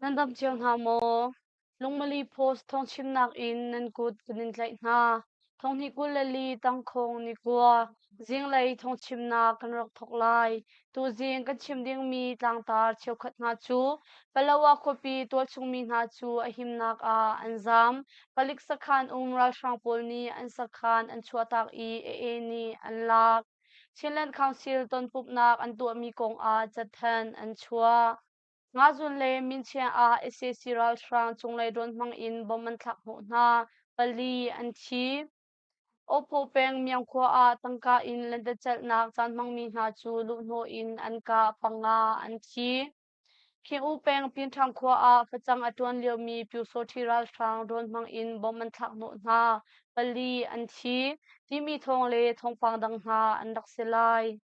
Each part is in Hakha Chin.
Nan damh cio hna maw? Lungmali post thawngchimnak in nan kut kan in tlaih hna. Thonghni kul le li tangkhong ni kua zinglei thawngchimnak kan rak thawk lai. Tuzing kan chim dingmi tlangtar cheukhat hna cu Palawa khuapi tualchungmi hna cu a himnak ah an zaam. Palik sakhan um ralhrang pawl nih an sakhan an chuahtak i AA nih an lak. Chinland Council tonpumhnak an tuahmi kongah catthan an chuah. Ngazun le Minchiang ah sac ralhrang cunglei rawn hmang in bomb an thlak hnawh hna, pali an thi. Awphaw peng Miang khua ah tangka in lentecelhnak caan hmangmi hna cu luhhnawh in an ka panga an thi. Khing-u peng Pinṭhang khua ah facang a ṭuan liomi Pyusawṭhi ralhrang rawn hmang in bomb an thlak hnawh hna, pali an thi, timi thawng le thawngpang dang hna an rak si lai.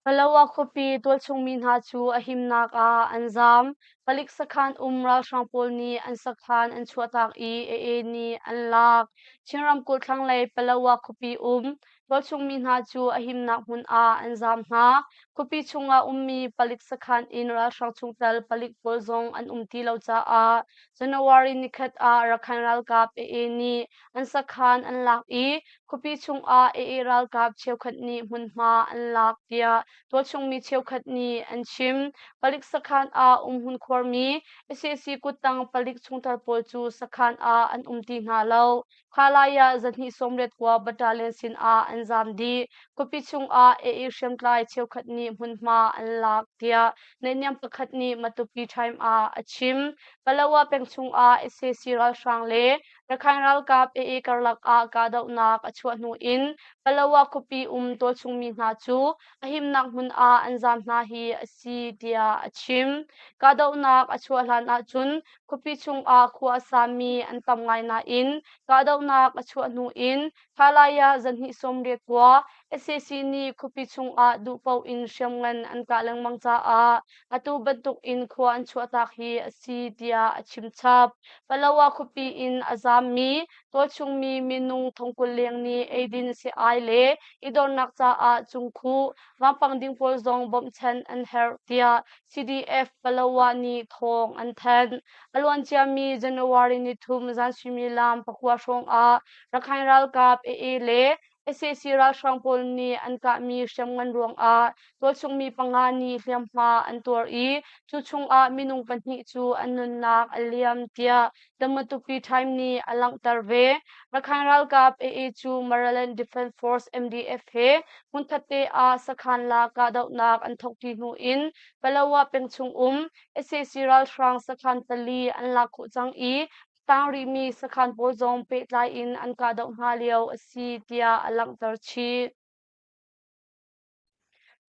Palawa khuapi tualchungmi hna cu a himnak ah an zaam. Palik sakhan um ralhrang pawl nih an sakhan an chuahtak i a-e nih an lak. Chin ramkulh thlanglei Palawa khuapi um Vancungmi hna cu a himnak hmun ah an zam hna. Khuapi chungah ummi palik sakhan in ralhrang chungtel palik pawl zong an um ti lo caah January nikhat ah Rakhine ralkap AA nih an sakhan an lak i khuapi chungah AA ralkap cheukhat nih hmunhma an lak tiah tualchungmi cheukhat nih an chim. Palik sakhan ah umhmun khuarmi SAC kuttang palik chungtel pawl cu sakhan ah an um ti hna lo. Kha lai ah zahnih sawmriat khua battalion sinah an zaam dih. Khuapi chungah A.E. hriamtlai cheukhat nih hmunhma an lak tiah naihniam pakhat nih Matupi Time ah a chim. Palawa peng chungah sac ralhrang le Rakhine ralkap AA karlak ah kahdohnak a chuah hnu in Palawa khuapi um tualchungmi hna cu a himnak hmun ah an zaam hna hi a si tiah a chim. Kahdohnak a chuah hlan ahcun Khuapi chungah khua a sami an tam ngai nain kahdohnak a chuah hnu in Halaya zarhhnih sawmriat kua SAC nih khuapi chungah duh paoh in hriamngan an kah lengmang caah atu bantukin khua an chuahtak hi a si tiah a chim chap. Palawa khuapi in a zaammi tualchungmi minung thongkul leng nih eidin sei le i dornak caah cungkhuh vampang ding pawl zong bawmhchanh an herh tiah CDF Palawa nih thawng an thanh. A luanciami January nithum zan suimilam pakua hrawng ah Rakhine ralkap AA le SAC ralhrang pawl nih an kahmi hriamngan ruangah tualchungmi panga nih hliamhma an tuar i cu chungah minung pahnih cu an nunnak a liam tiah The Matupi Time nih a langhter ve. Rakhan ralkap AA cu Maryland Defense Force MDF he hmunkhatte ah sakhan la kahdohnak an thawkṭi hnu in Palawa peng chung um SAC ralhrang sakhan pali an lak khawh cang i tang rihmi sakhan pawl zong pehtlai in an kahdoh hna lio a si tiah a langhter chih.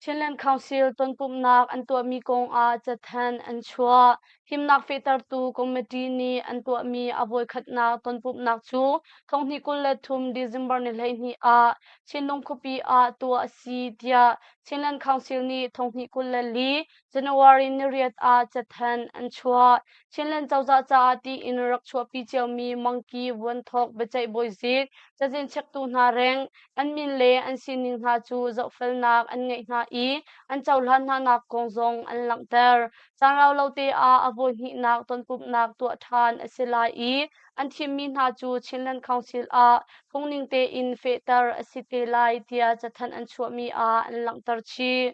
Chinland Council tonpumhnak an tuahmi kongah cathanh an chuah. Himnak fehtertu committee nih an tuahmi a voikhatnak tonpumhnak cu thonghnih kul le thum December ni hleihnih ah Chinlung khuapi ah tuah a si tiah Chinland Council nih thonghnih kul le li January ni riat ah cathanh an chuah. Chinland cozah caah tiin rak chuahpi ciomi mangki vuanthawk biaceih bawizik cazin chektu hna reng an min le an sining hna cu zohfelnak an ngeih hna i an cohlan hnanak kong zong an langhter. Caan rau lo te ah a voihnihnak tonpumhnak tuah ṭhan a si lai i an thimmi hna cu Chinland Council ah phungning tein fehter a si te lai tiah cathanh an chuahmi ah an langhter chih.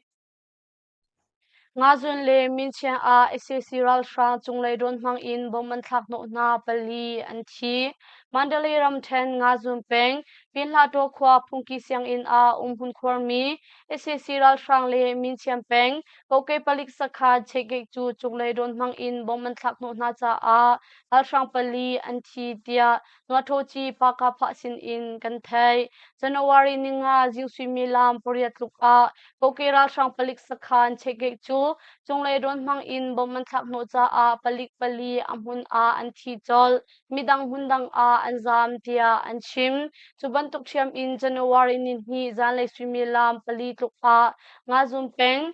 Ngazun le Minchiah ah sac ralhrang cunglei drone hmang in bomb an thlak hnawh hna pali an thi. Mandalay ramṭhen Ngazun peng Pinhlaṭaw khua phungki sianginn ah umhmun khuarmi sac ralhrang le Minchiah peng kokei palik sakha Chekgek cu cunglei drone hmang in bomb an thlak hnawh hna caah ralhrang pali an thi tiah Tuatawci Pakapah sinin kan theih. January ni nga zing suimilam pariat tluk ah kokei ralhrang palik sakhan chekgeh cu cunglei rawn hmang in bom an thlak hnawh caah palik pali a hmun ah an thi colh. Midang hmundang ah an zaam tiah an chim. Cu bantuk hriam in January ni hnih zanlei suimilam pali tluk ah Ngazum peng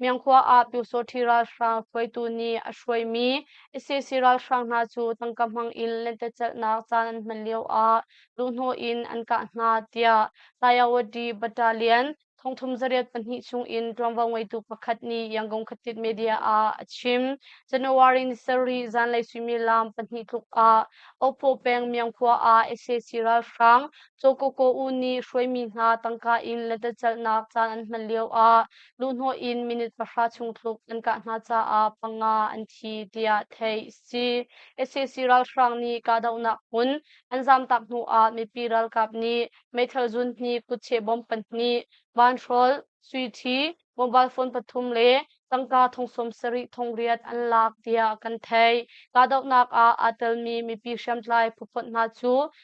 Myankhua ah Pyusawhthi ralhrang hruaitu nih a hruaimi ICC ralhrang hna cu tangka hmang in lentecelhnak caan an hman lioah luhhnawh in an kah hna tiah Tayawadi Battalion thongthum zariat pahnih chungin ṭuanvo ngeitu pakhat nih Yangon Khatit media ah a chim. January ni sarih zanlei suimilam pahnih tluk ah Opo peng Myankhua ah ICC ralhrang Chokoko uu nih hruaimi hna tangka in lentecelhnak caan an hman lioah Luhhnawh in minute pahra chung tluk an kah hna caah panga an thi tiah theih a si. SAC ralhrang nih kahdohnak hmun an zamtak hnu ah mipi ralkap nih meithal zun hnih kutcheh bomb pahnih vanhrawl swithi mobile phone pathum le tangka thongsawm sarih thong riat an lak tiah kan theih. Kahdohnak ah aa telmi mipi hriamtlai phuphot hna cu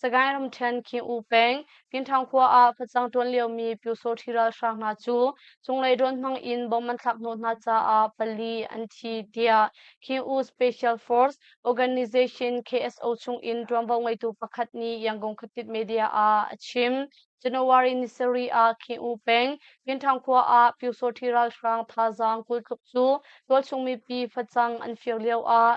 Sagaing ramṭhen Khin-u peng Kinthang khua ah facang ṭuan liomi Pyosawṭhi ralhrang hna cu cunglei drone hmang in bom an thlak hnawh hna caah pali an thi tiah Khin-u Special Force Organization KSO chungin ṭuanvo ngeitu pakhat nih Yangon khuatit media ah a chim. January ni sarih ah Khin-u peng Kinthang khua ah Pyosawṭhi ralhrang thazaang kul tluk cu tualchung mipi facang an fir lioah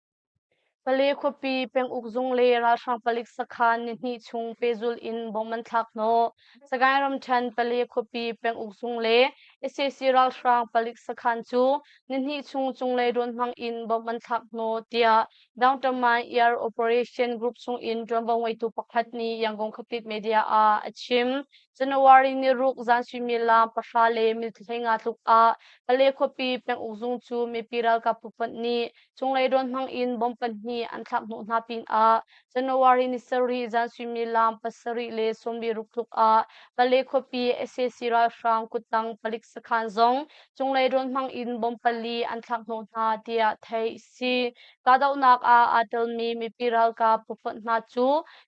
Pale khuapi penguk zung le ralhrang palik sakhan nihnih chung pehzulh in bomb an thlak hnawh. Sagaing ramṭhen Pale khuapi penguk zung le sac ralhrang palik sakhan cu nihnih chung cunglei rawn hmang in bomb an thlak hnawh, tiah Downtown Air Operation Group chungin ṭuanvo ngeitu pakhat nih Yangon Khuapit media ah a chim. January niruk zan suimilam pahra le minute hleinga tluk ah Pale khuapi penguk zung cu mipi ralkap pumpak nih Cunglei rawn hmang in bomb pahnih an thlak hnawh hna pinah January ni sarih zan suimilam pasarih le sawmviruk tluk ah Pale khuapi sac ralhrang kuttang palik sakhan zong cunglei rawn hmang in bomb pali an thlak hnawh hna tiah theih a si. Kahdohnak ah aa telmi mipi ralkap phufonh hna cu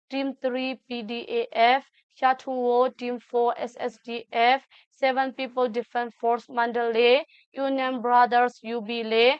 Team 3 PDAF, Sha-tu-wo Team 4 SSDF, Seven People Defense Force Mandalay, Union Brothers UB le